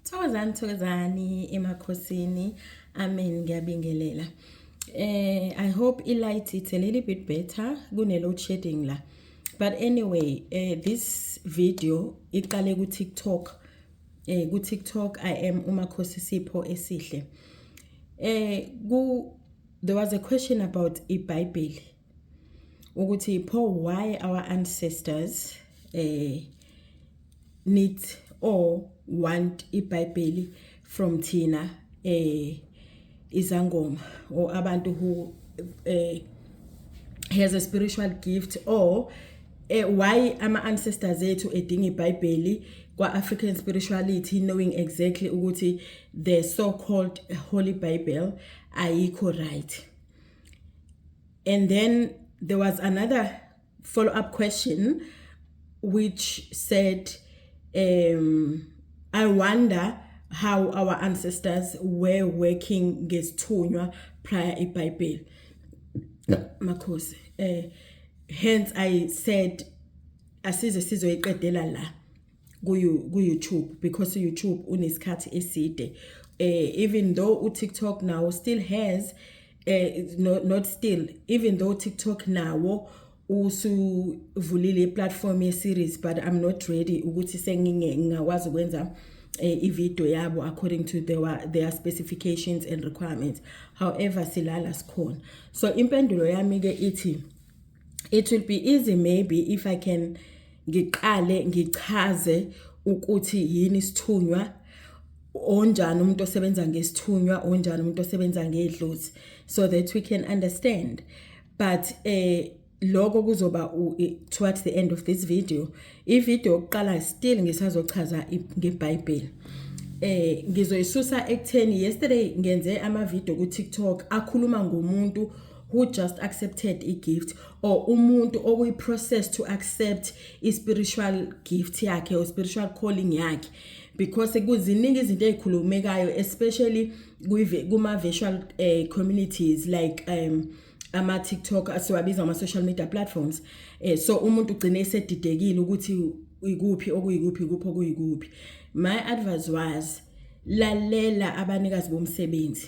Thokozani thokozani emakhosini. Amen ngiyabingelela. Eh I hope i light it's a little bit better kune load shedding la. But anyway, eh this video iqale ku TikTok. Eh ku TikTok I am umakhosi Sipho esihle. Eh ku there was a question about iBhayibheli. ukuthi pho why our ancestors eh need or want iBhayibheli from thina eh izangoma or abantu who eh has a spiritual gift or eh, why ama ancestors ethu edinga iBhayibheli kwa African spirituality knowing exactly ukuthi the so called holy bible ayikho right And then there was another follow up question which said, um, I wonder how our ancestors were working ngesithunywa prior ibhayibheli makhosi eh hence i said asize sizoyiqedela la ku-youtube because uyoutube unesikhathi eside um even though utiktok nawo still has eh no, not still even though TikTok nawo usuvulile iplatform ye series but I'm not ready ukuthi senginge ngingakwazi ukwenza eh, ivideo yabo according to their, their specifications and requirements however silala sikhona so impendulo yami ke ithi it will be easy maybe if i can ngiqale ngichaze ukuthi yini isithunywa onjani umuntu osebenza ngesithunywa onjani umuntu osebenza ngedlozi so that we can understand but eh lokho kuzoba towards the end of this video ivideo yokuqala still ngisazochaza ngeBhayibheli eh ngizoyisusa ekutheni yesterday ngenze ama video ku TikTok akhuluma ngomuntu who just accepted i-gift or umuntu okuyi-process to accept i-spiritual gift yakhe or spiritual calling yakhe because kuziningi izinto ey'khulumekayo especially kuma-virtual uh, eh, communities like um ama-tiktok siwabiza ama-social media platforms um so umuntu ugcine esedidekile ukuthi ikuphi okuyikuphi ikuphi okuyikuphi my advice was lalela abanikazi bomsebenzi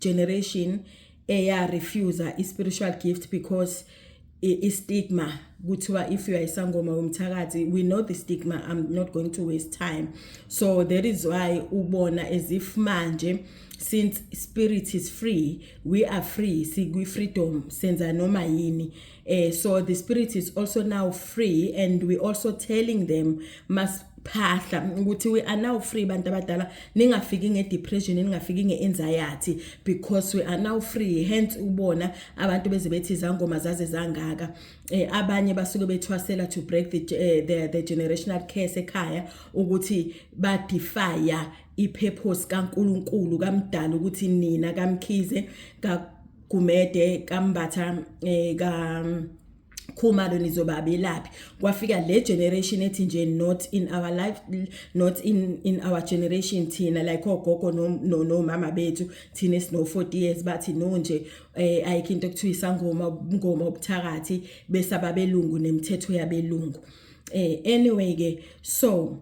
generation eya refuser i spiritual gift because i stigma kuthiwa if you are isangoma womthakathi we know the stigma i'm not going to waste time so that is why ubona as if manje since spirit is free we are free sikwi freedom senza noma yini Uh, so the spirit is also now free and we also telling them must phahla ukuthi we are now free bantu abadala ningafiki ngedepression ningafiki ngeenzayathi because we are now free hence ubona abantu beze bethi izangoma zaze zangaka eh, abanye basuke bethwasela to break the, eh, the, the generational curse ekhaya ukuthi badefya ipurpose kaNkuluNkulu kamdala ukuthi nina kamkhize ka Gumede kaMbatha eh, ka khumalo nizobabelaphi kwafika le generation ethi nje not in our life not in in our generation thina like ogogo no no mama bethu thina sino 40 years bathi no nje eh ayikho into ekuthiwa isangoma ngoma obuthakathi bese ababelungu nemithetho yabelungu eh anyway ke so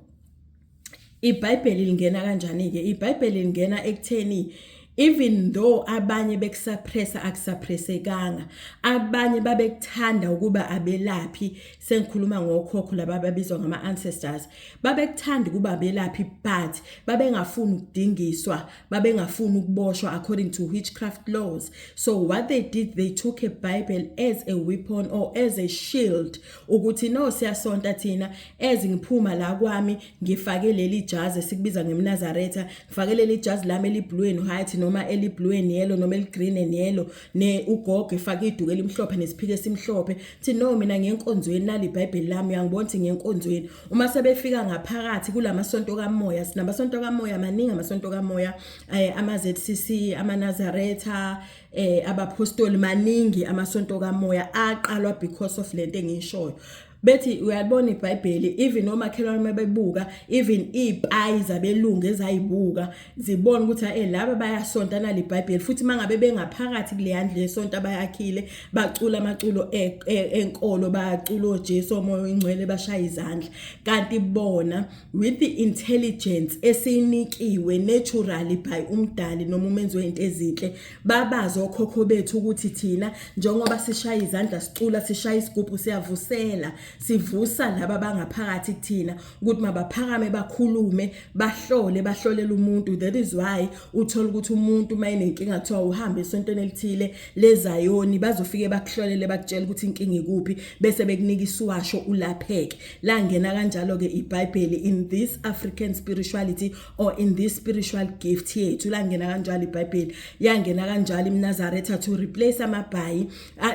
iBhayibheli lingena kanjani ke iBhayibheli lingena ekutheni even though abanye bekusuppressa akusuppressekanga abanye babekuthanda ukuba abelaphi sengikhuluma ngokhokho laba babizwa ngama ancestors babekuthanda ukuba abelaphi but babengafuni ukudingiswa babengafuni ukuboshwa according to witchcraft laws so what they did they took a bible as a weapon or as a shield ukuthi no siyasonta thina ezi ngiphuma la kwami ngifake leli jazi esikubiza ngemnazaretha ngifake leli jazi lami eliblue and white noma eliblue and yellow noma eligreen and yellow ne ugogo efake iduku elimhlophe nesiphike esimhlophe thi no mina ngenkonzweni nali ibhayibheli lami uyangibona ukuthi ngenkonzweni uma sebefika ngaphakathi kulamasonto kamoya sinamasonto kamoya maningi amasonto kamoya eh, ama-ZCC amanazaretha eh abaphostoli maningi amasonto kamoya aqalwa because of lento engishoyo bethi uyalibona iBhayibheli even omakhelwane mabebuka even izipayi zabelungu ezayibuka zibona ukuthi hey laba bayasonta nali iBhayibheli futhi mangabe bengaphakathi kule yandle yesonto abayakhile bacula amaculo e, e, enkolo bacula oJesu omoya oyingcwele bashaya izandla kanti bona with the intelligence esiyinikiwe naturally by umdali noma umenzi wezinto ezinhle babazi okhokho bethu ukuthi thina njengoba sishaya izandla sicula sishaya isigubhu siyavusela sivusa laba bangaphakathi kuthina ukuthi mabaphakame bakhulume bahlole bahlolela umuntu that is why uthola ukuthi umuntu mayinenkinga kuthiwa uhambe esontweni elithile lezayoni bazofike bakuhlolele bakutshela ukuthi inkinga ikuphi bese bekunika isiwasho ulapheke Langena kanjalo ke iBhayibheli in this African spirituality or in this spiritual gift yethu langena kanjalo iBhayibheli yangena kanjalo iMnazaretha to replace amabhayi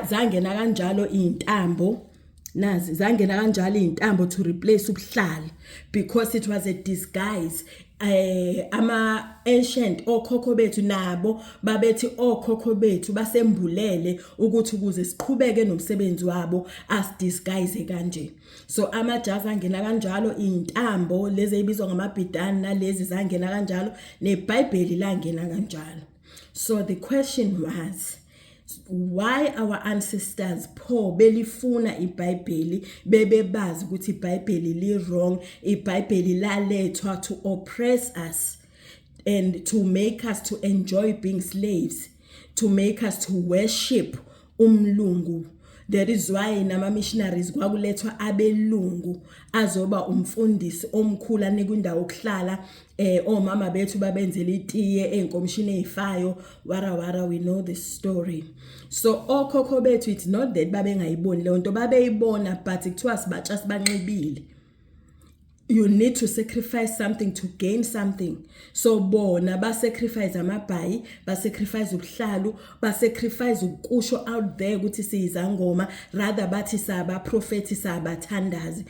zangena kanjalo izintambo nazi zangena kanjalo izintambo to replace ubuhlali because it was a disguise eh ama ancient okhokho bethu nabo babethi okhokho bethu basembulele ukuthi ukuze siqhubeke nomsebenzi wabo as disguise kanje so amajazi angena kanjalo intambo lezi ebizwa ngamabhidani nalezi zangena kanjalo nebhayibheli langena kanjalo so the question was why our ancestors pho belifuna ibhayibheli bebebazi ukuthi ibhayibheli li wrong ibhayibheli lalethwa to oppress us and to make us to enjoy being slaves to make us to worship umlungu that is why nama missionaries kwakulethwa abelungu azoba umfundisi omkhulu anikwa indawo okuhlala eh omama bethu babenzela itiye enkomshini ezifayo wara wara we know this story so okhokho bethu it's not that babengayiboni leyo nto babeyibona but kuthiwa sibatsha sibanxibile you need to sacrifice something to gain something so bona ba sacrifice amabhayi ba sacrifice ubuhlalu ba sacrifice ukusho out there ukuthi siyizangoma rather bathi saba prophet sabathandazi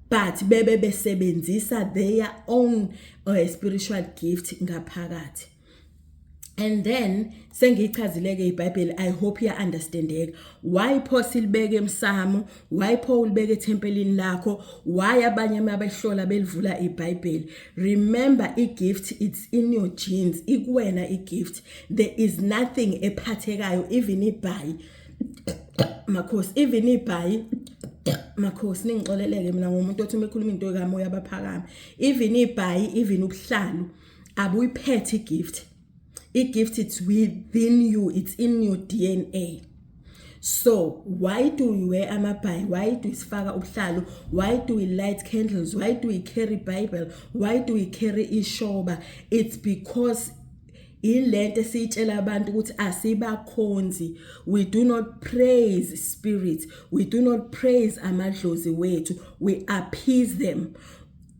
but bebe besebenzisa their own uh, spiritual gift ngaphakathi and then sengiyichazileke ibhayibheli i hope ya understandeka why pho silibeke emsamo why pho ulibeke ethempelini lakho why abanye uma behlola belivula ibhayibheli remember igift it's in your genes ikuwena igift there is nothing ephathekayo even ibhayi makhosi even ibhayi makhosi ningixoleleke mina ngomuntu othi uma ekhuluma into ekamoya abaphakame even ibhayi even ubuhlalu abuyiphethe igift igift it's within you it's in your DNA so why do we wear amabhayi why do sifaka ubuhlalu why do we light candles why do we carry bible why do we carry ishoba it's because ilento esiyitshela abantu ukuthi asibakhonzi we do not praise spirits we do not praise amadlozi wethu we appease them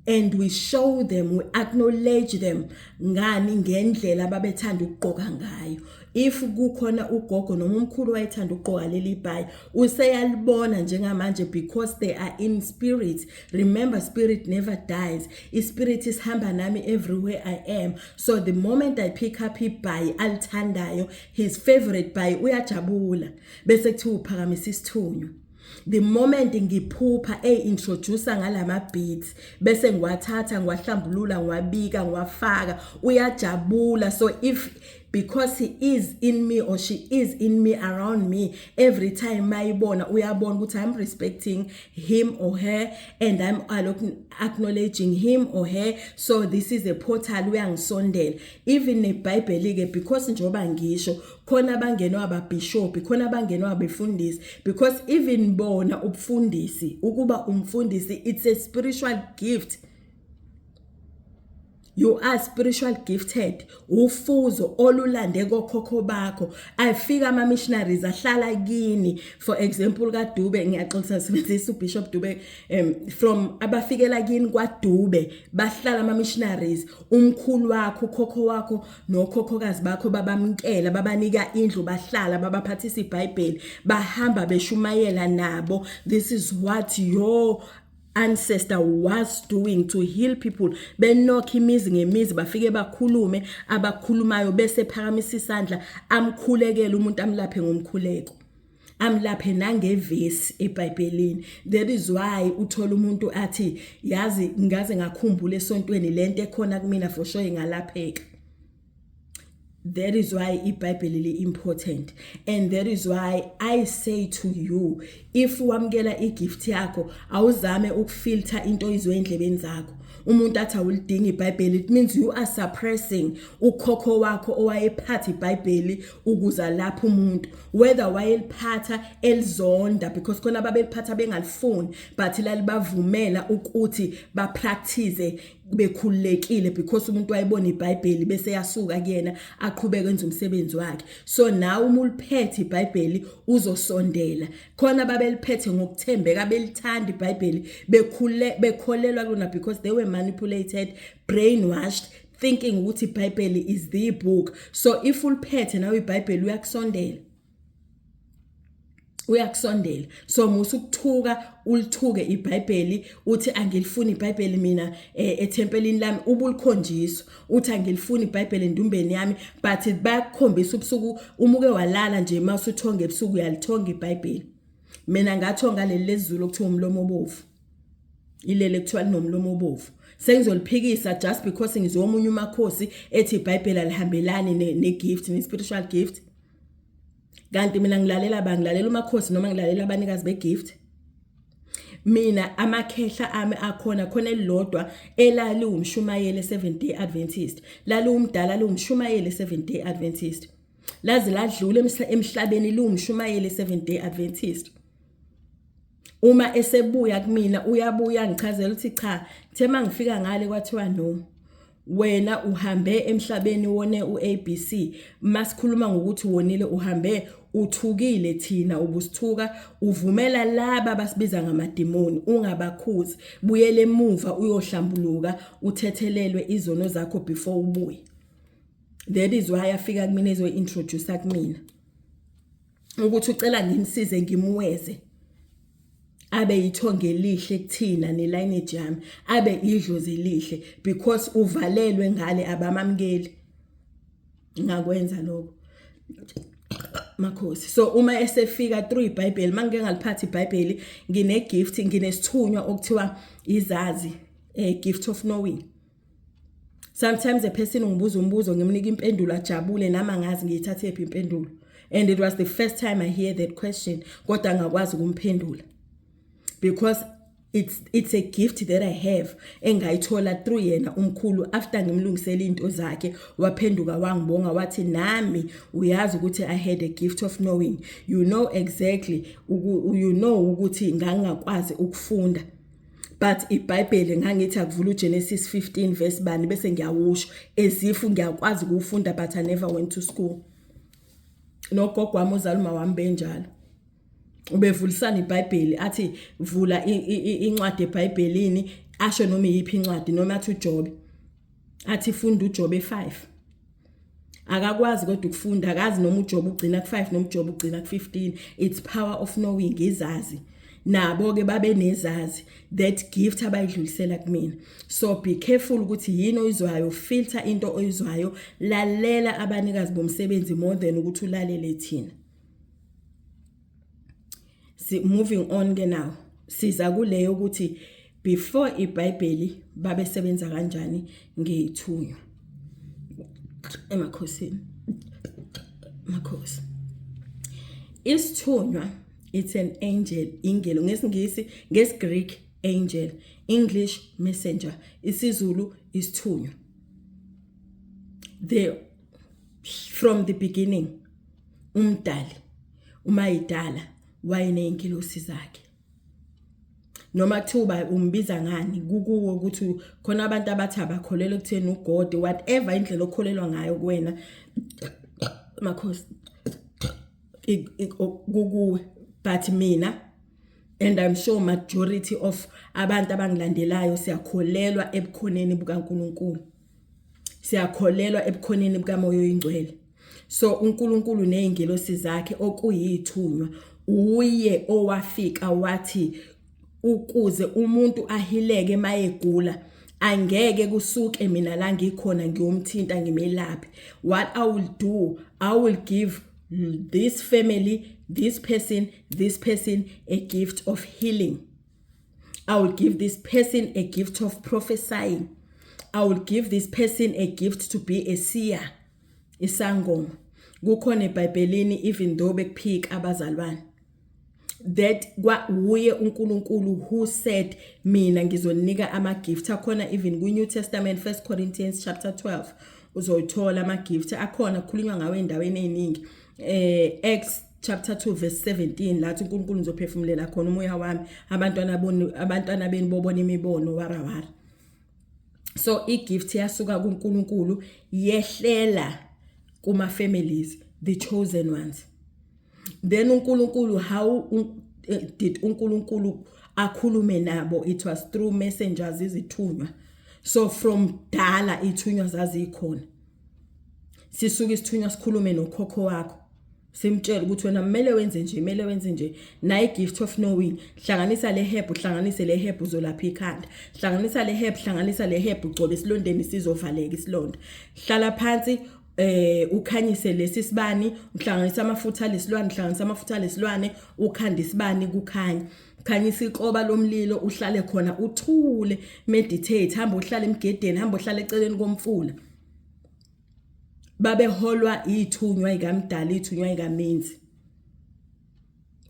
and we show them we acknowledge them ngani ngendlela ababethanda ukugqoka ngayo if kukhona ugogo noma umkhulu wayethanda ukugqoka leli bhayi useyalibona njengamanje because they are in spirit remember spirit never dies ispirit isihamba nami everywhere i am so the moment i pick up ibhayi alithandayo his favorite bhayi uyajabula bese kuthiwa uphakamisa isithunywa the moment ngiphupha eyi-introducer ngalama beats bese ngiwathatha ngiwahlambulula ngiwabika ngiwafaka uyajabula so if because he is in me or she is in me around me every time mayibona uyabona ukuthi i'm respecting him or her and I'm acknowledging him or her so this is a portal uyangisondela even nebhayibheli ke because njoba ngisho khona abangenwa ababishop khona abangenwa abefundisi because even bona ubufundisi ukuba umfundisi it's a spiritual gift You are spiritual gifted. Ufuzo olulande kokhokho bakho. Afika ama missionaries ahlala kini. For example ka Dube ngiyaxolisa sibenzisa uBishop Dube um, from abafikela kini kwa Dube bahlala ama missionaries. Umkhulu wakho, ukhokho wakho nokhokhokazi bakho babamkela, babanika indlu bahlala, babaphathisa iBhayibheli, bahamba beshumayela nabo. This is what your ancestor was doing to heal people benokha imizi ngemizi bafike bakhulume abakhulumayo bese phakamisa isandla amkhulekele umuntu amlaphe ngomkhuleko amlaphe nangevesi eBhayibhelini that is why uthola umuntu athi yazi ngaze ngakhumbula esontweni lento ekhona kumina for sure ingalapheka That is why iBhayibheli li important and that is why I say to you if wamkela igift yakho awuzame ukufilter into izwe endlebeni zakho umuntu athi awulidingi iBhayibheli it means you are suppressing ukhokho wakho owayephatha iBhayibheli ukuza lapha umuntu whether wayeliphatha elizonda because khona babeliphatha bengalifuni but lalibavumela ukuthi bapractice bekhululekile because umuntu wayebona iBhayibheli bese yasuka kuyena aqhubeke enze umsebenzi wakhe so nawe uma uliphethe iBhayibheli uzosondela khona babeliphethe ngokuthembeka belithanda iBhayibheli bekhule bekholelwa kulona because they were manipulated brainwashed thinking ukuthi iBhayibheli is the book so if uliphethe nawe iBhayibheli uyakusondela uyakusondela so musa ukuthuka ulithuke iBhayibheli uthi angilifuni iBhayibheli mina eh, ethempelini lami ubulikhonjiswa uthi angilifuni iBhayibheli endumbeni yami but bayakukhombisa ubusuku umuke walala nje mawusuthonga ebusuku uyalithonga iBhayibheli mina ngathonga leli lezulu okuthiwa umlomo obovu ilele kuthiwa linomlomo obovu sengizoliphikisa just because ngizomunye umakhosi ethi iBhayibheli alihambelani ne, ne gift ne spiritual gift kanti mina ngilalela ba ngilalela umakhosi noma ngilalela abanikazi begift mina amakhehla ami akhona khona elilodwa elali umshumayeli 7 day adventist lali umdala liwumshumayeli 7 day adventist laze ladlula emhlabeni liwumshumayeli 7 day adventist uma esebuya kumina uyabuya ngichazela ukuthi cha thema ngifika ngale kwathiwa no wena uhambe emhlabeni wone uABC masikhuluma ngokuthi wonile uhambe uthukile thina ubusithuka uvumela laba basibiza ngamadimoni ungabakhuzi buyele emuva uyohlambuluka uthethelelwe izono zakho before ubuye that is why afika kumina ezointroduce kumina ukuthi ucela ngimsize ngimweze abe yithonge elihle kuthina nelineage yami abe idlozi elihle because uvalelwe ngale abamamkeli ngakwenza lokho makhosi so uma esefika through ibhayibheli uma ngike ngaliphathi ibhayibheli ngine-gift nginesithunywa okuthiwa izazi um eh, gift of knowing sometimes a person ungibuza umbuzo ngimnika impendulo ajabule nami angazi ngiyithathephi impendulo and it was the first time i hear that question kodwa ngakwazi ukumphendula because it's it's a gift that i have engayithola through yena umkhulu after ngimlungisela into zakhe waphenduka wangibonga wathi nami uyazi ukuthi i had a gift of knowing you know exactly you know ukuthi ngangakwazi ukufunda but ibhayibheli ngangithi akuvula ugenesis 15 verse bani bese ngiyawusho ezifu ngiyakwazi ukuwufunda but i never went to school nogogo wami uzala uma wami benjalo ubevulisana ibhayibheli athi vula incwadi ebhayibhelini asho noma iyiphi incwadi noma athi ujobe athi funda ujobe 5 akakwazi kodwa ukufunda akazi noma ujoba ugcina ku-5 noma ujoba ugcina ku-15 it's power of knowing izazi nabo-ke babe nezazi that gift abayidlulisela kumina so be careful ukuthi yini oyizwayo filter into oyizwayo lalela abanikazi bomsebenzi more than ukuthi ulalele thina si moving on ke now siza kuleyo ukuthi before iBhayibheli babesebenza kanjani ngeyithunywa emakhosini makhosi isithunywa it's an angel ingelo ngesingisi ngesgreek angel english messenger isizulu isithunywa the from the beginning umdali umayidala wayeneyinkilosi zakhe noma kuthiwa umbiza ngani kukuwe ukuthi khona abantu abathi abakholelwa ekutheni ugod whatever indlela okholelwa ngayo kuwena makhosi kukuwe but mina and i'm sure majority of abantu abangilandelayo siyakholelwa ebukhoneni bukaNkuluNkulu siyakholelwa ebukhoneni bukamoya oyingcwele so uNkulunkulu nezingelosi zakhe okuyithunywa uye owafika wathi ukuze umuntu ahileke mayegula angeke kusuke mina la ngikhona ngiyomthinta ngimelaphe what i will do i will give this family this person this person a gift of healing I will give this person a gift of prophesying. I will give this person a gift to be a seer. Isangoma. Kukhona eBhayibhelini even though bekuphika abazalwane. That kwa wuye uNkulunkulu who said mina ngizoninika ama gift akhona even ku New Testament 1 Corinthians chapter 12 uzoyithola ama gift akhona kukhulunywa ngawe endaweni eziningi eh Acts chapter 2 verse 17 lathi uNkulunkulu ngizophefumulela khona umoya wami abantwana boni abantwana beni bobona imibono warawara so igift yasuka kuNkulunkulu yehlela kuma families the chosen ones then uNkulunkulu how eh, did uNkulunkulu akhulume nabo it was through messengers izithunywa so from dala ithunywa zazikhona sisuke isithunywa sikhulume nokhokho wakho simtshela ukuthi wena kumele wenze nje kumele wenze nje naye gift of knowing hlanganisa le herb uhlanganise le herb uzolapha ikhanda hlanganisa le herb hlanganisa le herb ugcobe isilondeni sizovaleka isilonda hlala phansi eh ukhanyise lesi sibani uhlanganisa amafutha lesilwane uhlanganisa amafutha lesilwane ukhanda isibani kukhanya khanyisa ikroba lomlilo uhlale khona uthule meditate hamba uhlale emgedeni hamba uhlale eceleni komfula babeholwa ithunywa ikamdala ithunywa ikamenzi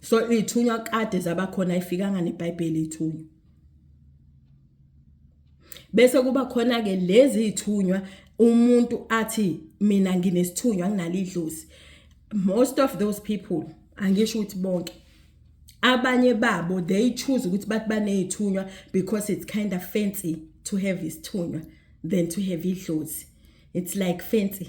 so ithunywa kade zabakhona ifikanga nebhayibheli ithunywa bese kuba khona ke lezi ithunywa umuntu athi mina nginesithunywa nginalidlozi most of those people angisho ukuthi bonke abanye babo they choose ukuthi bathi banezithunywa because it's kind of fancy to have isithunywa than to have idlozi it's like fancy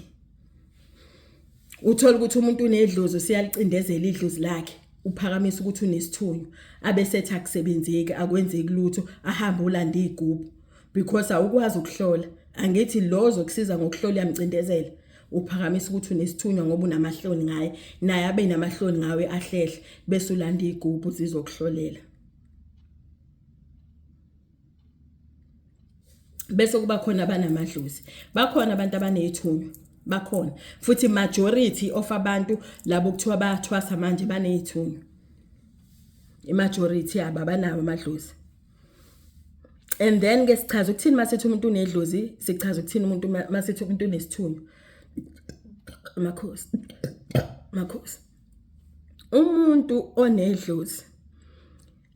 uthola ukuthi umuntu unedlozi usiyalicindezela idlozi lakhe uphakamisa ukuthi unesithunywa abesethi akusebenzeki akwenzeki lutho ahambe ulanda igubhu because awukwazi ukuhlola angithi lozo kusiza ngokuhlola yamcindezela uphakamisa ukuthi unesithunywa ngoba unamahloni ngaye naye abe namahloni ngawe ahlehle bese ulanda igubhu zizokuhlolela bese kuba khona abanamadlozi bakhona abantu abanezithunywa bakhona futhi majority of abantu labo kuthiwa bayathwasa manje banezithunywa imajority yabo abanawo amadlozi and then ke sichaza ukuthini masithi umuntu unedlozi sichaza ukuthini umuntu masithi umuntu unesithunywa makhosi makhosi umuntu onedlozi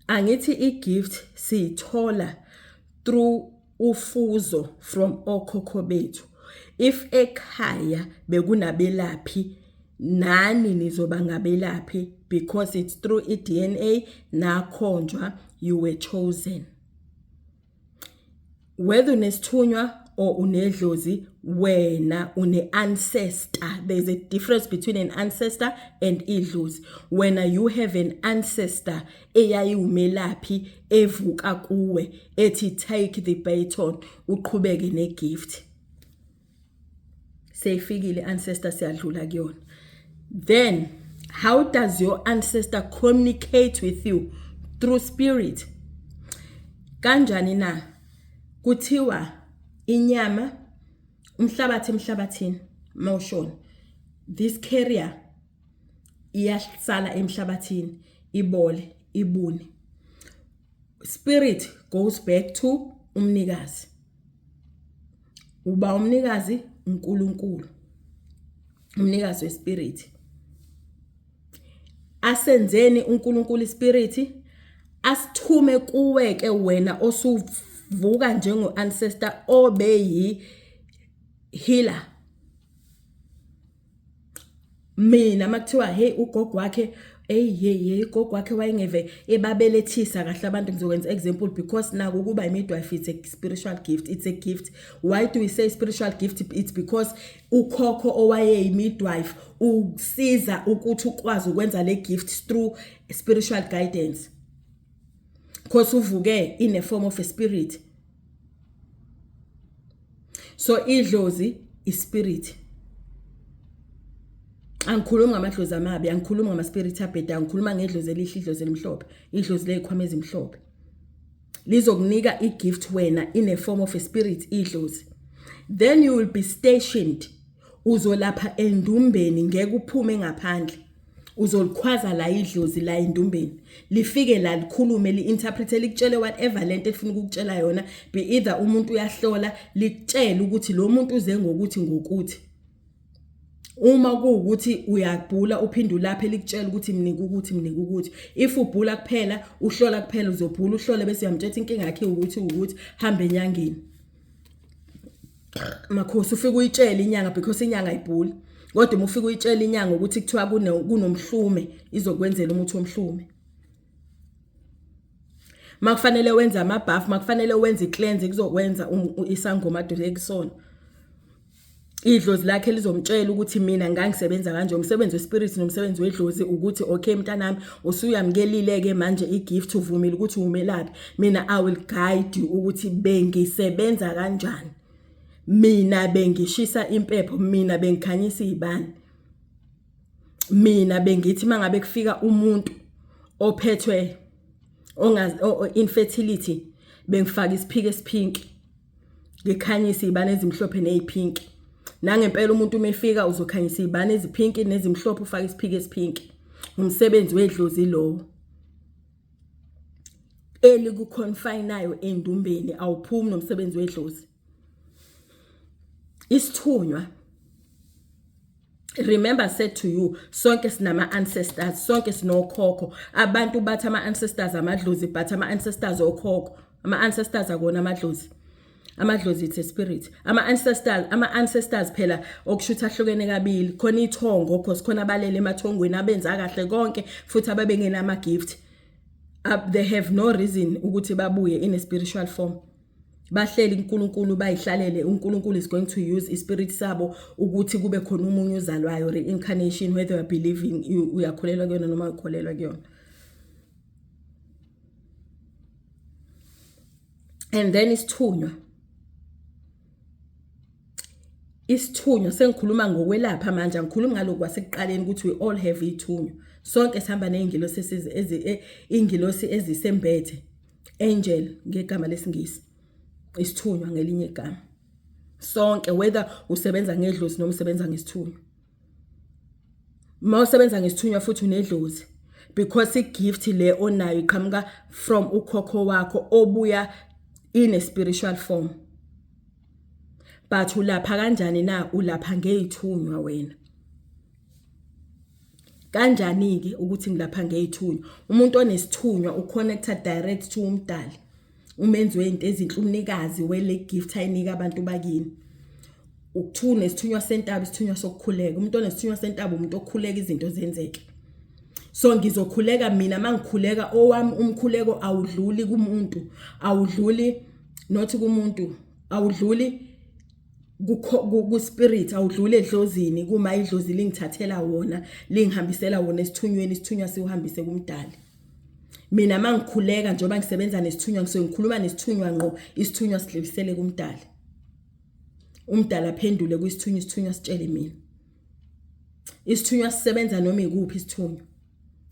angithi igift siyithola through ufuzo from okhokho bethu if ekhaya bekunabelaphi nani nizoba ngabelaphi because it's through i-DNA nakhonjwa you were chosen whether unesithunywa or unedlozi wena une-ancestor there's a difference between an ancestor and idlozi wena you have an ancestor eyayiwumelaphi evuka kuwe ethi take the baton uqhubeke negift seyifikile ancestor siyadlula kuyona then how does your ancestor communicate with you through spirit kanjani na kuthiwa inyama umhlabathi emhlabathini mawushona this carrier iyasala emhlabathini ibole ibune spirit goes back to umnikazi uba umnikazi uNkulunkulu umnikazi wespirit asenzeni uNkulunkulu ispirit asithume kuwe ke wena osuvuka njengo ancestor obeyi healer mina makuthiwa hey ugogo wakhe eyi hey hey gogo wakhe wayengeve ebabelethisa kahle abantu ngizokwenza example because naku kuba imidwife it's a spiritual gift it's a gift why do we say spiritual gift it's because ukhokho owayeyimidwife usiza ukuthi ukwazi ukwenza le gift through spiritual guidance because uvuke in a form of a spirit so idlozi ispirit angikhulumi ngamadlozi amabi angikhulumi ngamaspirit abheda angikhuluma ngedlozi elihle idlozi elimhlophe idlozi lezikhwama ezimhlophe lizokunika igift wena in a form of a spirit idlozi then you will be stationed uzolapha endumbeni ngeke uphume ngaphandle uzolikhwaza la idlozi la indumbeni lifike la likhulume li-interpret likutshele whatever le nto elifuna ukukutshela yona be either umuntu uyahlola likutshele ukuthi lo muntu uze ngokuthi ngokuthi uma kuwukuthi uyabhula uphinde ulaphe likutshela ukuthi mnike ukuthi mnike ukuthi if ubhula kuphela uhlola kuphela uzobhula uhlole bese uyamtshela inkinga yakhe ukuthi ukuthi hambe enyangeni makhosi ufike uyitshele inyanga because inyanga ayibhuli kodwa uma ufike uyitshele inyanga ukuthi kuthiwa kunomhlume izokwenzela umuthi omhlume makufanele wenze amabhafu makufanele wenze i-cleanse kuzokwenza um, isangoma adule kusona idlozi lakhe lizomtshela ukuthi mina ngangisebenza kanje umsebenzi wespirit nomsebenzi wedlozi ukuthi okay mntanami usuyamkelile-ke manje i-gift uvumile ukuthi umelaphi mina i will guide you ukuthi bengisebenza kanjani mina bengishisa impepho mina bengikhanyisa iy'bani mina bengithi uma ngabe kufika umuntu ophethwe infertility bengifaka isiphiko esiphinki ngikhanyise iy'bani ezimhlophe ney'phinki nangempela umuntu uma efika uzokhanyisa iy'bani eziphinki nezimhlophe ufake isiphiki esiphinki umsebenzi wedlozi lowo elikuconfinayo endumbeni awuphumi nomsebenzi wedlozi isithunywa remember said to you sonke sinama ancestors sonke sinokhokho abantu bathi ama ancestors amadlozi but ama ancestors okhokho ama ancestors akona amadlozi amadlozi it's a spirit ama ancestors ama ancestors phela okushutha ahlukene kabili khona ithongo because khona abalele emathongweni abenza kahle konke futhi ababengenama gift they have no reason ukuthi babuye in a spiritual form bahleli uNkulunkulu bayihlalele uNkulunkulu is going to use ispirit sabo ukuthi kube khona umunye uzalwayo reincarnation whether you are believing uyakholelwa kuyona noma ukholelwa kuyona and then isithunywa isithunywa sengikhuluma ngokwelapha manje angikhulumi ngalokhu kwasekuqaleni ukuthi we all have ithunywa sonke sihamba ney'ngilosi e, iy'ngilosi ezisembethe angel ngegama lesingisi isithunywa ngelinye igama sonke whether usebenza ngedlozi noma usebenza ngesithunywa uma usebenza ngesithunywa futhi unedlozi because igift le onayo iqhamuka from ukhokho wakho obuya in a spiritual form but ulapha kanjani na ulapha ngeyithunywa wena Kanjani-ke ukuthi ngilapha ngey'thunywa? Umuntu onesithunywa u-connecta direct to umdali umenzi wezinto ezinhle umnikazi wele gift ayinika abantu bakini ukuthiwa unesithunywa sentaba isithunywa sokukhuleka umuntu onesithunywa sentaba umuntu okhuleka izinto zenzeke so ngizokhuleka mina mangikhuleka owami umkhuleko awudluli kumuntu awudluli not kumuntu awudluli kuspirit awudlule edlozini kuma idlozi lingithathela wona lingihambisela wona esithunyweni isithunywa siwuhambise kumdali mina mangikhuleka njengoba ngisebenza nesithunywa ngisuke ngikhuluma nesithunywa ngqo isithunywa sidlilisele kumdali umdala aphendule kwisithunywa isithunywa sitshele mina isithunywa sisebenza noma ikuphi isithunywa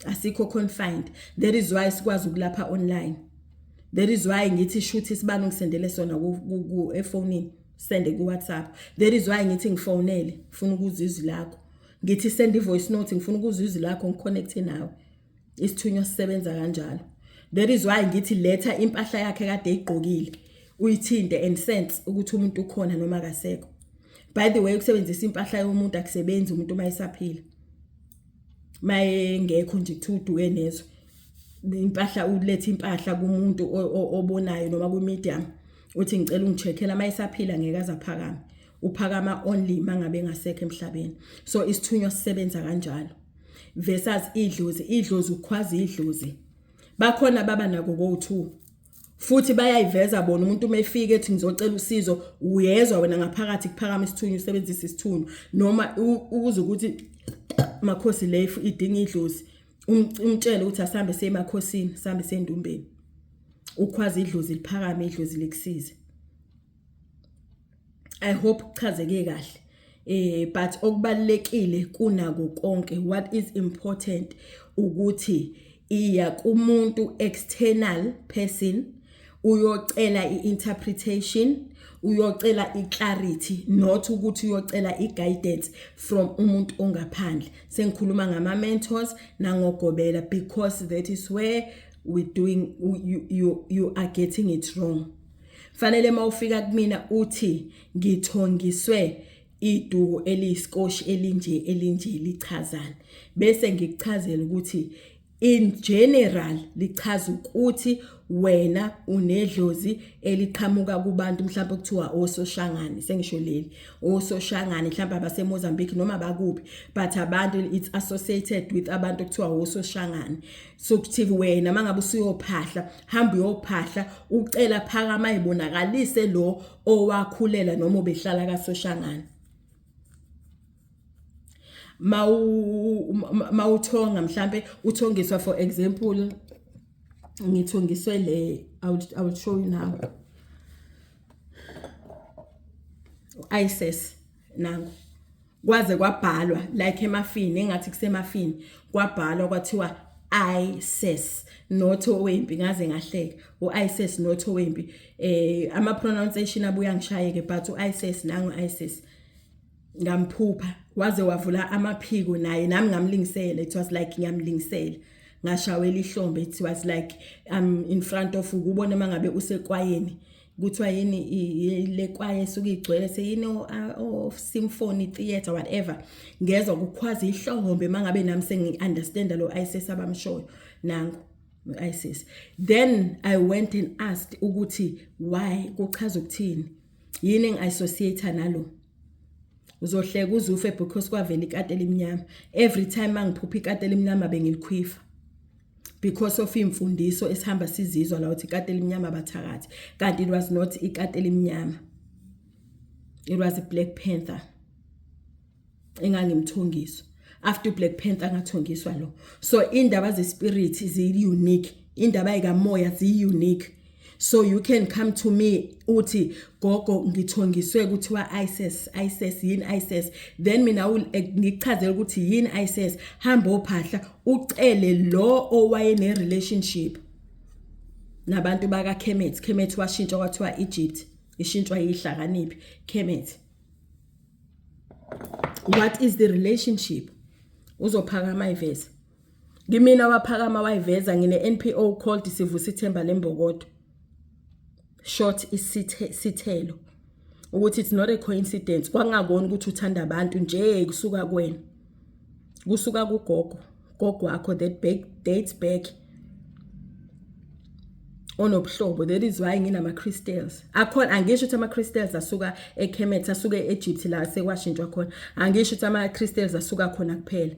asikho confined that is why sikwazi ukulapha online that is why ngithi shuthi sibani ngisendele sona ku efonini sende ku WhatsApp that is why ngithi ngifonele ngifuna ukuzwa izwi lakho ngithi send i voice note ngifuna ukuzwa izwi lakho ngiconnect nawe isithunywa sisebenza kanjalo that is why ngithi letha impahla yakhe kade igqokile uyithinte and sense ukuthi umuntu ukhona noma akasekho by the way ukusebenzisa impahla yomuntu akusebenzi umuntu uma esaphila mayengekho nje kuthiwa uduke nezwe impahla ulethe impahla kumuntu obonayo noma kwi-medium uthi ngicela ungicheckela uma esaphila ngeke azaphakame uphakama only mangabe engasekho emhlabeni so isithunywa sisebenza kanjalo versus idlozi idlozi ukhwaza idlozi bakhona baba nako go2 futhi bayayiveza bona umuntu uma efika ethi ngizocela usizo uyezwa wena ngaphakathi kuphakama isithunywa usebenzisa isithunywa noma ukuze ukuthi makhosi le idinga idlozi um, umtshele ukuthi asambe semakhosini sambe sendumbeni ukhwaza idlozi liphakame idlozi likusize i hope kuchazeke kahle eh but okubalekile kunako konke what is important ukuthi iya kumuntu external person uyocela i-interpretation uyocela i-clarity not ukuthi uyocela i-guidance from umuntu ongaphandle sengikhuluma ngama-mentors nangogobela because that is where we doing you, you, you are getting it wrong fanele uma ufika kumina uthi ngithongiswe iduku eliyisikoshi elinje elinje lichazana bese ngikuchazela ukuthi in general lichaza ukuthi wena unedlozi eliqhamuka kubantu mhlawumbe kuthiwa ososhangane sengisho leli ososhangane mhlawumbe abaseMozambique noma bakuphi but abantu it's associated with abantu kuthiwa ososhangane sokuthi wena mangabe usuyophahla hamba uyophahla ucela phakama ibonakalise lo owakhulela noma ubehlala kasoshangana mawu mawuthonga mhlambe uthongiswa for example ngithongiswe le i will, I will show you now isis nangu kwaze kwabhalwa like emafini engathi kusemafini kwabhalwa kwathiwa ISIS not owempi ngaze ngahleka uISIS not owempi eh ama pronunciation abuya ngishayeke but uISIS nangu ISIS ngamphupha waze wavula amaphiko naye nami ngamlingisela it was like ngiyamlingisela ngashawela ihlombe it was like um in front of ukubona mangabe usekwayeni kuthiwa yini le kwaye esuke igcwele seyini o-symphony theatre whatever ngezwa kukhwaza ihlohombe uma ngabe nami sengi-understanda lo isis abamshoyo nangu isis then i went and asked ukuthi why kuchaza ukuthini yini engi-associate nalo uzohleka uzufe because kwavela ikati elimnyama every time mangiphupha ikati elimnyama bengilikhwifa because of imfundiso esihamba sizizwa la uthi ikati elimnyama bathakathi kanti it was not ikati elimnyama it was a black panther engangimthongiso after black panther ngathongiswa lo so indaba ze spirit zi unique indaba ikamoya zi unique so you can come to me uthi gogo ngithongiswe kuthiwa ISIS ISIS yini ISIS then mina eh, ngichazela ukuthi yini ISIS hamba ophahla ucele lo owaye ne relationship nabantu baka Kemet Kemet washintsha kwathiwa Egypt ishintshwa yihlakaniphi Kemet what is the relationship uzophakama ivese Ngimina waphakama wayiveza ngine NPO called sivusa ithemba lembokodo. Short isithe sithelo ukuthi it's not a coincidence kwangakona ukuthi uthanda abantu nje kusuka kwena. Kusuka kugogo gogo wakho that back dates back onobuhlobo that is why nginama crystals akhona angisho ukuthi ama crystals asuka eKhemet asuke eEgypt la sekwashintshwa khona angisho ukuthi ama crystals asuka khona kuphela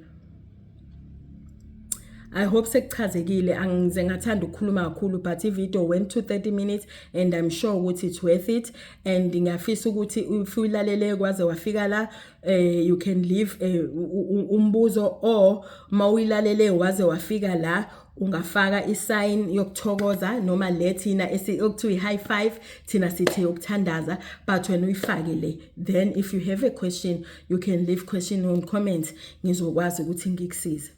I hope sekuchazekile angize ngathanda ukukhuluma kakhulu but ivideo went to 30 minutes and I'm sure ukuthi it's worth it and ngiyafisa ukuthi if uyilalele kwaze wafika la eh you can leave eh, umbuzo or mawuyilalele waze wafika la ungafaka isign yokuthokoza noma le thina okuthiwa i-high five thina sithe yokuthandaza but wena uyifake le then if you have a question you can leave question on comment ngizokwazi ukuthi ngikusize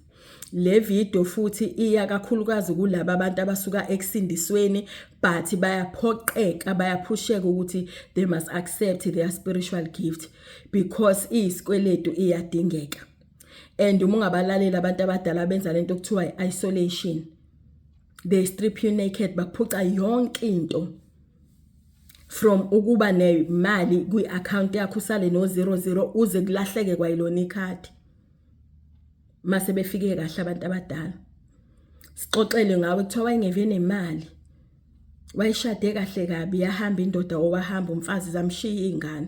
le video futhi iya kakhulukazi kulabo abantu abasuka ekusindisweni but bayaphoqeka bayaphusheka ukuthi they must accept their spiritual gift because iyisikweletu iyadingeka and uma ungabalaleli abantu abadala benza lento okuthiwa i-isolation they strip you naked bakuphuca yonke into from ukuba nemali kwi-account yakho usale no-zero zero uze kulahleke kwayilona ikhadi mase befike kahle abantu abadala sixoxele ngawe kuthiwa wayengeve nemali wayishade kahle kabi yahamba indoda owahamba umfazi zamshiya iy'ngane